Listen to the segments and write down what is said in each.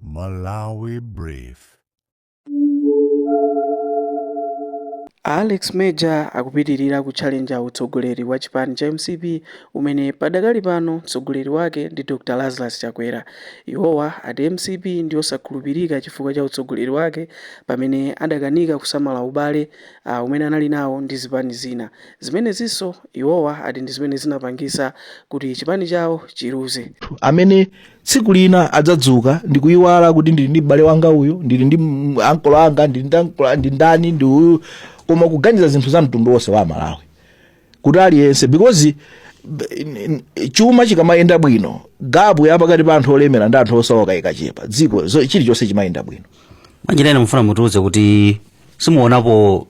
Malawi Brief. A Alex Major akupitilira kutchalenja utsogoleri wa chipani cha mcp umene padakali pano mtsogoleri wake ndi Dr Lazarus Chakwera. Iwowa ati mcp ndiyosakhulupirika chifukwa cha utsogoleri wake pamene adakanika kusamala ubale uh, umene anali nawo ndi zipani zina. Zimenezinso iwowa ati ndi zimene zinapangisa kuti chipani chawo chiluze. tsiku lina adzadzuka ndikuyiwala kuti ndili ndi m'bale wanga uyu ndili ndi m- ankolo anga ndili ndi ankolo a- ndi ndani ndi uyu koma kuganiza zinthu za mtundu wonse wa Malawi kuti aliyense because b- n- n- chuma chikamayenda bwino gapu ya pakati pa anthu olemera ndi anthu osauka ikachepa dziko zo- chilichonse chimayenda bwino mwanjira ina mufuna mutiuze kuti simuonapo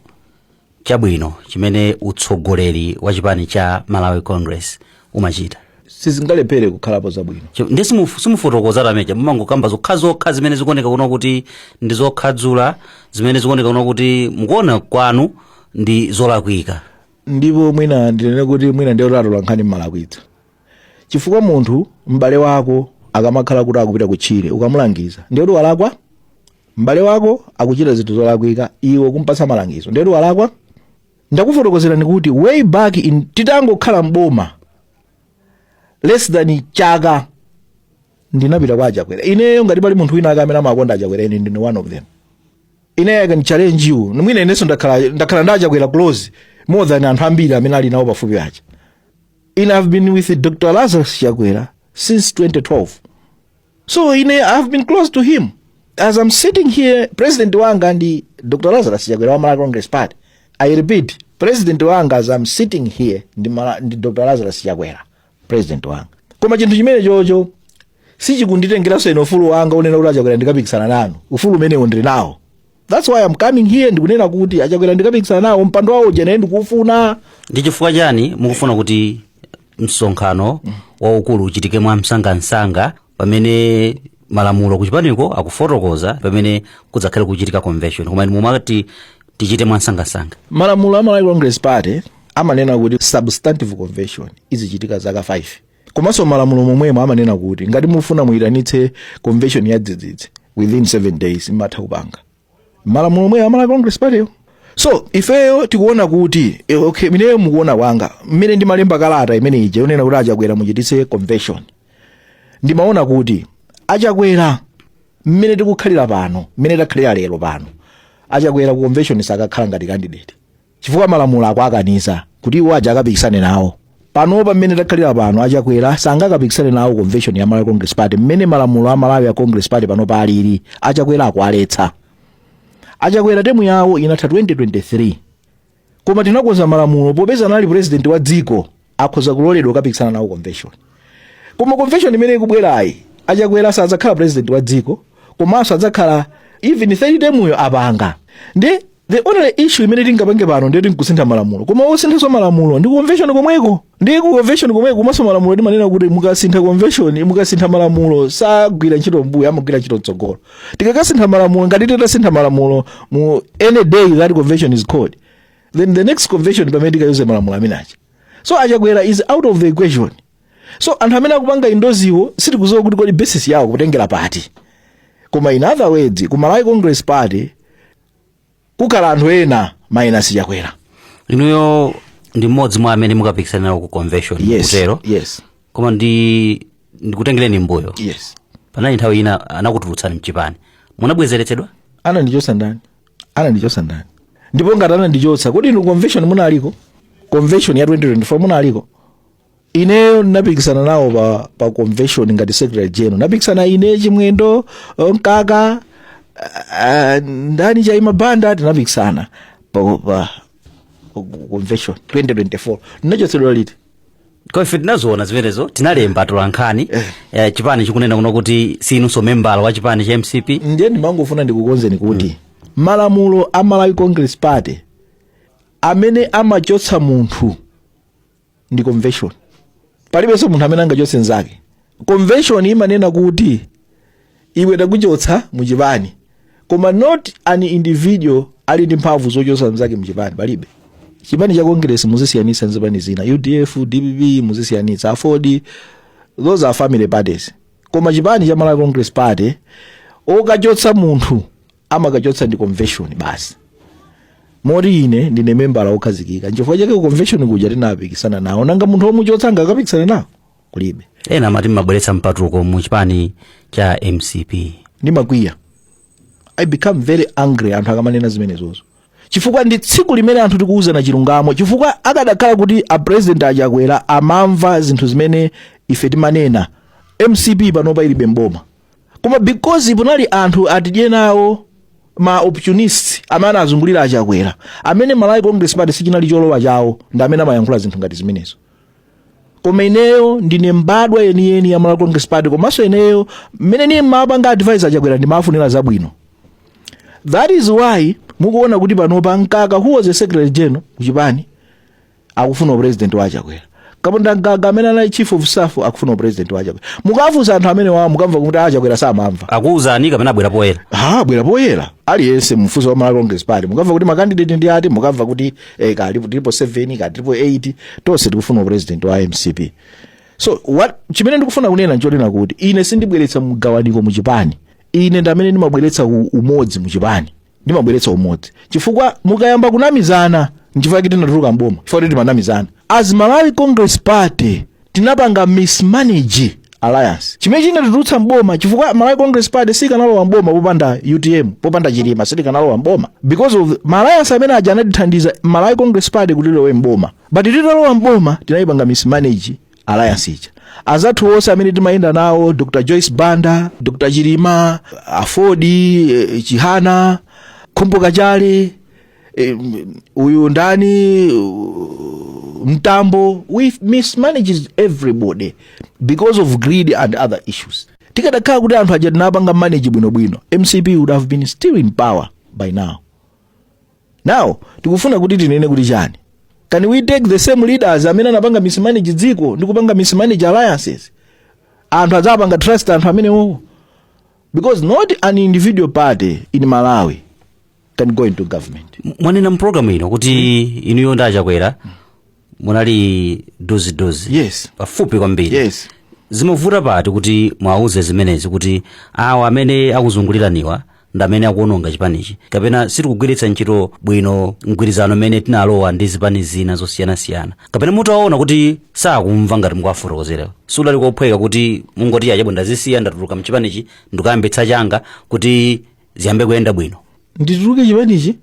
chabwino chimene utsogoleri wa chipani cha malawi congress umachita sizingalephere kukhalapo zabwino Chi- ndi simufu- simufotokoza time ija mumangokamba zokhazokha zimene zikuoneka kuno kuti ndi zokhadzula zimene zikuoneka kuno kuti mukuona kwanu ndi zolakwika ndipo mwina ndinene kuti mwina inu atolankhani mumalakwitsa chifukwa munthu m'bale wako akamakhala kuti akupita kutchire ukamulangiza ndiye kuti walakwa m'bale wako akuchita zinthu zolakwika iwe kumpatsa malangizo ndiye kuti walakwa ndakufotokozerani kuti way back in titangokhala mboma less than chaka ndinapita kwa achakwera ineyo ngati pali munthu wina ake amene amakonda achakwera ine ndine one of them ine i can challenge you mwina inenso ndakhala ndakhala ndi achakwera close more than anthu ambiri amene ali nawo pafupi aja i have been with dr lazarus chakwera since 2012 so ine i have been close to him as i'm sitting here president wanga ndi dr lazarus chakwera wa malawi congress party i repeat president wanga as i'm sitting here ndi, Mala, ndi dr lazarus chakwera president wanga koma chinthu chimenecho sichikunditengeranso ine ufulu wanga wonena kuti achakwera ndikapikisana nanu ufulu umenewo ndili nawo that's why I'm coming here ndikunena kuti achakwera ndikapikisana nawo mpando wawo uja nane ndikuufuna ndi chifukwa chani mukufuna kuti msonkhano waukulu uchitike mwa msangamsanga pamene malamulo kuchipaniko akufotokoza pamene kudzakhale kuchitika convention koma inu mumati tichite mwa msangamsanga malamulo a malawi congress party amanena kuti substantive convention izichitika zaka 5 komanso malamulo omwewo amanena kuti ngati mufuna muyitanitse convention ya dzidzidzi within 7 days mumatha kupanga malamulo omwewo a malawi congress partyyo so ifeyo tikuona kuti eh, okay ineyo mukuona kwanga mmene ndimalemba kalata imene ija yonena kuti achakwera muchititse convention ndimaona kuti achakwera mmene tikukhalira pano mmene takhalira lero pano achakwera ku convention sakakhala ngati candidate chifukwa malamulo akuwakaniza kuti iwo aja akapikisane nawo panopa mmene takhalira pano achakwera sangakapikisane nawo convention ya malawi congress party mmene malamulo a malawi a congress party panopa alili achakwera akuwaletsa achakwera term yawo inatha 2023 koma tinakonza malamulo popeza anali president wa dziko akhoza kuloledwa kukapikisana nawo convention koma convention imene ikubwerayi achakwera sadzakhala president wa dziko komanso adzakhala even third term yo apanga ndi the only issue imene tingapange pano ndi yoti nkusintha malamulo koma osinthanso malamulo ndi convention komweko ndi ku convention komweko komanso malamulo timanena kuti mukasintha convention mukasintha malamulo sagwira ntchito mbuyo amagwira ntchito mtsogolo tikakasintha malamulo ngati titasintha malamulo mu any day that convention is called then the next convention pamene tikayuze malamulo amene aja so achakwera is out of the equation so anthu amene akupanga endorse wo sitikudziwa kuti kodi basis yawo akutengera pati koma in other words ku malawi congress party kukhala anthu ena minus chakwera inuyo ndi mmodzi mwa amene mukapikisana nawo ku convention yes kutero yes koma ndi ndikutengereni mbuyo yes panali nthawi ina anakutulutsani mchipani munabwezeretsedwa anandichotsa ndani anandichotsa ndani ndipo ngati anandichotsa kodi inu convention munaliko convention ya 2024 munaliko ineyo ndinapikisana nawo pa, pa convention ngati secretary general napikisana ine chimwendo eh, mkaka ah, ndani chaima banda tinapikisana pa, pa, convention 2024 ndinachotsedwa liti kwa ife tinaziona zimenezo tinalemba atolankhani eh, chipani chikunena kunena kuti sinunso membala wa chipani cha mcp ndiye ndimangofuna ndikukonzeni kuti malamulo a malawi congress party amene amachotsa munthu ndi convention palibenso munthu amene angachotse mnzake convention imanena kuti iwe takuchotsa muchipani koma not an individual ali ndi mphamvu zochotsa mnzake muchipani palibe chipani cha congress muzisiyanitsa nzipani zina udf dpp muzisiyanitsa aford those are family parties koma chipani cha malawi congress party okachotsa munthu amakachotsa ndi convention basi moti ine ndine membala wokhazikika nchifukwa chake ku convention kuja tinapikisana nawo nanga munthu womuchotsa angakapikisana nawo kulibe ena amati mmabweretsa mpatuko mu chipani cha mcp ndimakwiya i become very angry anthu akamanena zimenezozo chifukwa ndi tsiku limene anthu tikuwuzana chilungamo chifukwa akadakhala kuti a president achakwera amamva zinthu zimene ife timanena mcp panopa ilibe mboma koma because punali anthu atidye nawo ma opportunists amene anazungulira a chakwera amene malawi congress party sichinali cholowa chawo ndi amene amayankhula zinthu ngati zimenezo koma ineyo ndine mbadwa yeniyeni ya malawi congress party komanso ineyo mmene ndinkapanga advise a chakwera ndimawafunira zabwino that is why mukuona kuti panopa mkaka who was a secretary general kuchipani akufuna upresident wa a chakwera kapondamgaga amene anali chief of staff akufuna upresident wa a chakwera mukafunsa anthu amenewowo mukamva kuti a chakwera samamva akuwuzani kapena abwere poyera ha abwere poyera aliyense m'tsogoleri wa malawi congress party mukamva kuti makandidate ndi ati mukamva kuti eh, kaya tilipo 7 kaya tilipo 8 tonse tikufuna upresident wa mcp so what chimene ndikufuna kunena nchonena kuti ine sindibweretsa mgawaniko muchipani ine ndamene ndimabweretsa u- umodzi muchipani ndimabweretsa umodzi chifukwa mukayamba kunamizana nchifukwa kuti tinatuluka mboma chifukwa kuti timanamizana as malawi congress party tinapanga mismanage alliance chimene chinatitulutsa mboma chifukwa malawi congress party sikanalowa mboma popanda utm popanda chilima sitikanalowa mboma because of maalliance amene aja anatithandiza malawi congress party kuti ilowe mboma but titalowa mboma tinayipanga mismanage alliance ija anzathu onse amene timayenda nawo dr joyce banda dr chilima aford eh, chihana khumbo kachali eh, uyu ndani uh, mtambo we mismanaged everybody because of greed and other issues tikadakhala kuti anthu aja tinawapanga manage bwinobwino mcp would have been still in power by now Now, tikufuna kuti tinene kuti chani? Can we take the same leaders amene anapanga mismanage dziko ndi kupanga mismanage alliances? Anthu adzawapanga trust anthu amenewowo. Because not an individual party in Malawi can go into government. mwanena mpulogalamu ino kuti inuyo ndi a chakwera munali dozidozi Yes. pafupi kwambiri yes zimavuta pati kuti mwauze zimenezi kuti awa amene akuzunguliraniwa ndi amene akuononga chipanichi kapena sitikugwiritsa ntchito bwino mgwirizano umene tinalowa ndi zipani zina zosiyanasiyana kapena mutaona kuti sakumva ngati mukuwafotokozera sikudali kophweka kuti mungoti ah chabwino ndazisiya ndatuluka mchipanichi ndikayambitsa changa kuti ziyambe kuyenda bwino ndituluke chipanichi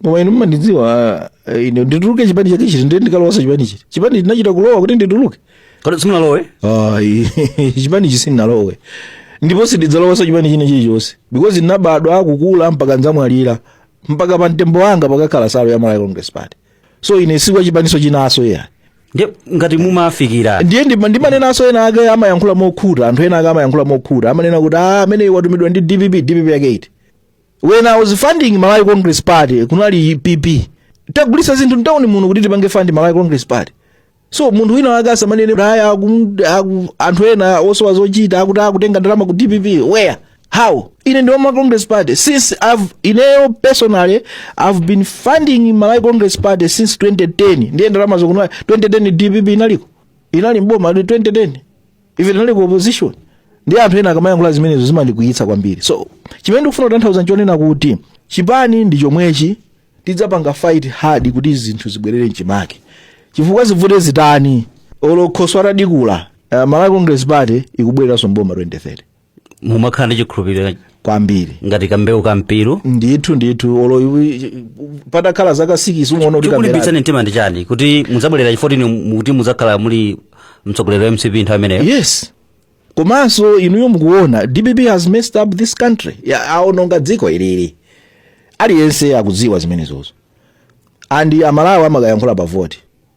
koma inu mmandidziwa eh, ine ndituluke chipani chake chiti ndiye ndikalowanso chipani chiti chipani ndinachita kulowa kuti ndituluke kodi simunalowe ayi chipani ichi sindinalowe ndipo sindidzalowanso chipani china chilichonse because ndinabadwa nkukula mpaka ndzamwalira mpaka pa mtembo wanga padzakhala nsalu ya malawi congress party so ine si wa chipaninso chinanso iya ndiye ngati mumafikira ndiye ndima- ndimanenanso ena ake amayankhula mokhuta anthu ena ake amayankhula mokhuta amanena kuti "Ah, amene watumidwa ndi dpp dpp yake iti when i was funding malawi congress party kunali pp tagulisa zinthu mtawuni muno kuti tipange fund malawi congress party so munthu wina wake asamanene kaya anthu ena osowa zochita akuti akutenga ndalama ku dpp where how ine ndi wama congress party since I've, ineyo personally i've been funding malawi congress party since 2010 ndiye ndalama zokumwa 2010 dpp inaliko inali mboma 2010 ife tinali ku opposition ndiye anthu ena akamayankhula zimenezo zimandikwiyitsa kwambiri so chimene ndikufuna kutanthauza nchonena kuti chipani ndi chomwechi tidzapanga fight hard kuti zinthu zibwerere mchimake chifukwa zivute zitani olokhoswa atadikhula uh, malawi congress party ikubwereranso mboma 2030 mumakhala ndi chikhulupiriro kwambiri ngati kambewu ka mpiru ndithu ndithu olo iwi- patakhala zaka sikisi umaona kuti kamera chikulimbitsani mtima ndi chani kuti mudzabwerera chifotini kuti mudzakhala muli mtsogoleri wa mcp nthawi imeneyo yes komanso inuyo mukuona dpp has messed up this country Ya- aononga dziko ilili aliyense akudziwa zimenezozo and amalawi amakayankhula pa voti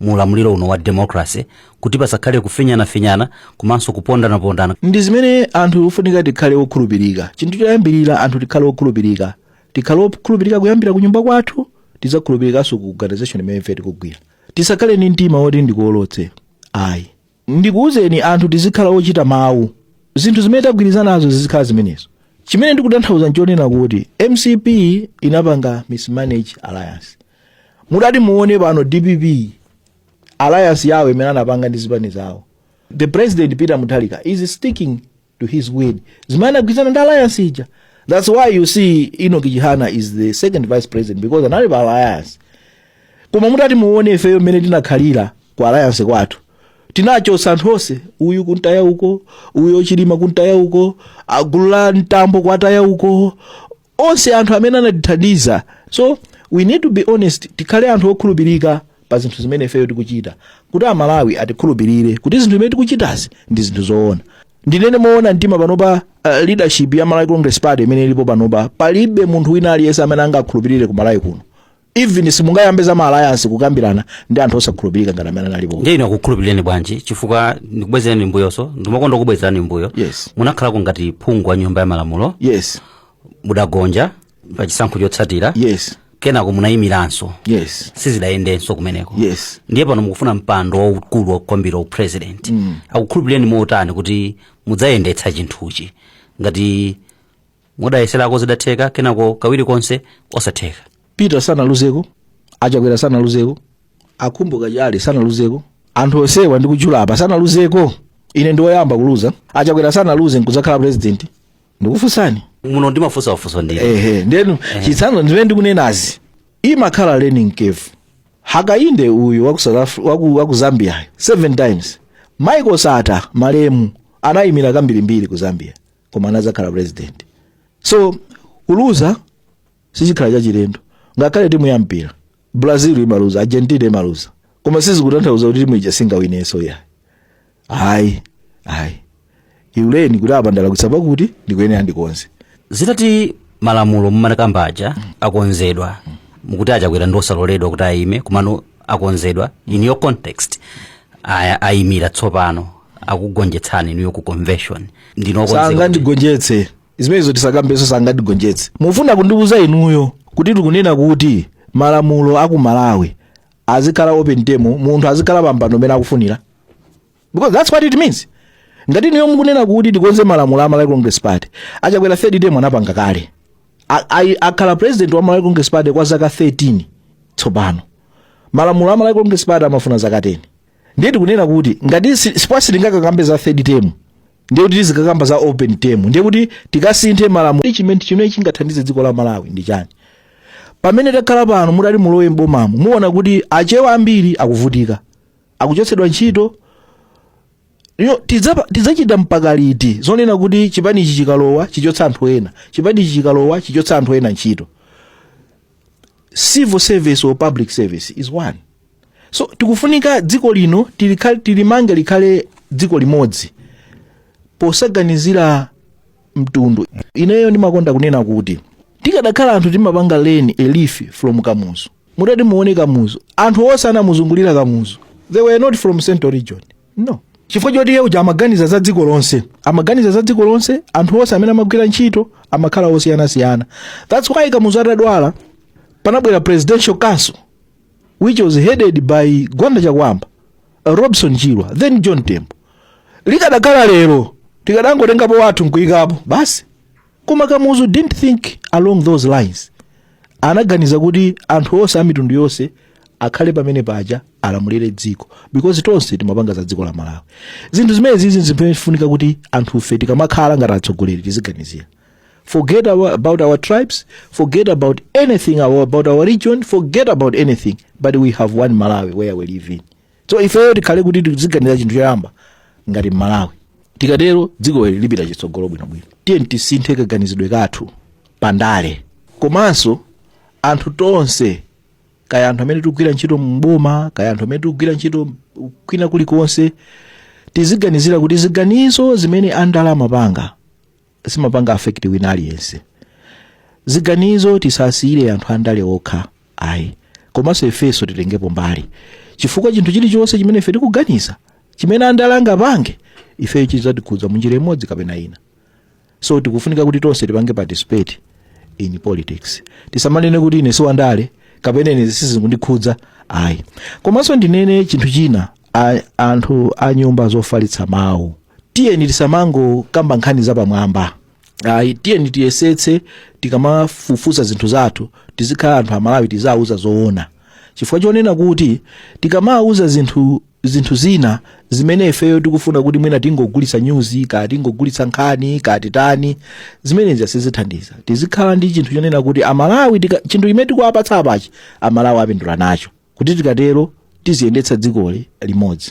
mu ulamuliro uno wa democracy kuti pasakhale kufinyanafinyana komanso kupondanapondana ndi zimene anthu kufunika tikhale okhulupirika chinthu choyambirira anthu tikhale okhulupirika tikhale okhulupirika kuyambira ku nyumba kwathu tidzakhulupirikanso ku organization imene ife tikugwira tisakhale ndi mtima woti ndikuolotse ayi ndikuwuzeni anthu tizikhala ochita mawu zinthu zimene tagwirizanazo zizikhala zimenezo chimene ndikutanthauza nchonena kuti mcp inapanga mismanage alliance mutati muone pano dpp alliance yawo imene anapanga ndi zipani zawo the president peter mutharika is sticking to his word zimene anagwirizana ndi alliance ija that's why you see enoch chihana is the second vice president because anali pa alliance koma mutati muone ifeyo mmene tinakhalira ku alliance kwathu tinachotsa anthu onse uyu kuntaya uko uyo chilima kuntaya uko agulu la mtambo kwataya uko onse anthu amene anatithandiza so we need to be honest tikhale anthu okhulupirika pa zinthu zimene ifeyo tikuchita kuti amalawi atikhulupirire kuti zinthu zimene tikuchitazi ndi zinthu zoona ndinene moona mtima panopa uh, leadership ya malawi congress party imene ilipo panopa palibe munthu wina aliyense amene angakhulupirire ku malawi kuno even simungayambe za ma alliance kukambirana ndi anthu osakhulupirika ngati amene alipo ndiye inu akukhulupirireni bwanji chifukwa ndikubwezerani mbuyonso ndimakonda kubwezerani mbuyo Yes. munakhalako ngati phungu wa nyumba ya malamulo yes mudagonja pa chisankho chotsatira yes kenako munayimiranso yes sizidayendenso kumeneko Yes. ndiye pano mukufuna mpando waukulu waukwambiri upresident mm. akukhulupirireni motani kuti mudzayendetsa chinthuchi ngati mudayeserako sizidatheka kenako kawiri konse osatheka peter sanaluzeko achakwera sanaluzeko a kumbukani chale sanaluzeko anthu onsewa ndikutchula apa sanaluzeko ine ndiwoyamba kuluza achakwera sanaluze nkudzakhala president ndikufunsani muno ndimafunsa wafunso ndine ehe ndi chitsanzo zimene ndikunenazi imakhala learning curve hakainde uyu waku, South Af- waku, waku zambia seven times michael sata malemu anayimira kambirimbiri ku zambia koma anadzakhala president so kuluza sichikhala chachilendo ngakhale timu ya mpira brazil imaluza argentina imaluza koma sizikutanthauza kuti timu ija singawinenso ya ayi ayi you learn kuti apa ndalakwitsa pakuti ndikuyenera ndikonze zakuti malamulo mumakamba aja akonzedwa mukuti achakwera ndi osaloledwa kuti ayime komano akonzedwa in your context aya ayimira tsopano akugonjetsani inuyo ku convention ndinokonzeka sangandigonjetse zimenezo tisakambenso sangandigonjetse mufuna kundiuza inuyo kuti tikunena kuti malamulo aku malawi azikhala open term munthu azikhala pampando umene akufunira because that's what it means ngati inuyo mukunena kuti tikonze malamulo a malawi congress party achakwera third term anapanga kale A- a- akhala president wa malawi congress party kwa zaka 13 tsopano malamulo a malawi congress party amafuna zaka 10 ndiye tikunena kuti ngati si- sipwa sitingakakambe za third term ndiye kuti tizikakamba za open term ndiye kuti tikasinthe malamulo Ndi chimene chimene chingathandize dziko la malawi ndi chani pamene takhala pano mutati mulowe m'bomamo muona kuti achewa ambiri akuvutika akuchotsedwa ntchito yo tidzapa- tidzachita mpaka liti zonena kuti chipani ichi chikalowa chichotsa anthu ena chipani ichi chikalowa chichotsa anthu ena ntchito civil service or public service is one so tikufunika dziko lino tilikhale- tilimange likhale dziko limodzi posaganizira mtundu ineyo ndimakonda kunena kuti tikadakhala anthu timapanga learn a leaf from kamuzu mutati muone kamuzu anthu onse anamuzungulira kamuzu they were not from central region no chifukwa choti iye uja amaganiza za dziko lonse amaganiza za dziko lonse anthu onse amene amagwira ntchito amakhala osiyanasiyana thats why kamuzu atadwala panabwera presidential council which was headed by gwanda chakwamba uh, robson chirwa then john tembo likadakhala lero tikadangotengapo wathu nkuyikapo basi Koma Kamuzu didn't think along those lines. Anaganiza kuti anthu onse a mitundu yonse akhale pamene paja alamulire dziko because tonse timapanga za dziko la Malawi. Zinthu zimene zizi zimafunika kuti anthufe tikamakhala ngati atsogoleri tiziganizira. Forget our, about our tribes, forget about anything our, about our region, forget about anything, but we have one Malawi where we live in. so ifeyo tikhale kuti tiziganira chinthu choyamba ngati mmalawi tikatero dziko ili lipita chitsogolo bwinobwino tiyeni tisinthe kaganizidwe kathu pandale komanso anthu tonse kaya anthu amene tikugwira ntchito mboma kaya anthu amene tikugwira ntchito kwina kulikonse tiziganizira kuti ziganizo zimene andale amapanga zimapanga affect wina aliyense ziganizo tisasiyire anthu andale okha ayi komanso ifenso titengepo mbali chifukwa chinthu chilichonse chimene ife tikuganiza chimene andale angapange ifeyo chidzatikhudza munjira imodzi kapena ina so tikufunika kuti tonse tipange participate in politics tisamanene kuti ine siwandale kapena ine sizindikhudza ayi komanso ndinene chinthu china a, anthu a nyumba zofalitsa mawu tiyeni tisamangokamba nkhani zapamwamba ayi tiyeni tiyesetse tikamafufuza zinthu zathu tizikhala anthu amalawi tiziwauza zoona chifukwa chonena kuti tikamawauza zinthu zinthu zina zimene ifeyo tikufuna kuti mwina tingogulitsa nyuzi kaya tingogulitsa nkhani kaya titani zimenezi sizithandiza tizikhala ndi chinthu chonena kuti amalawi tika- chinthu chimene tikuwapatsa apachi amalawi apindula nacho kuti tikatero tiziyendetsa dzikoli limodzi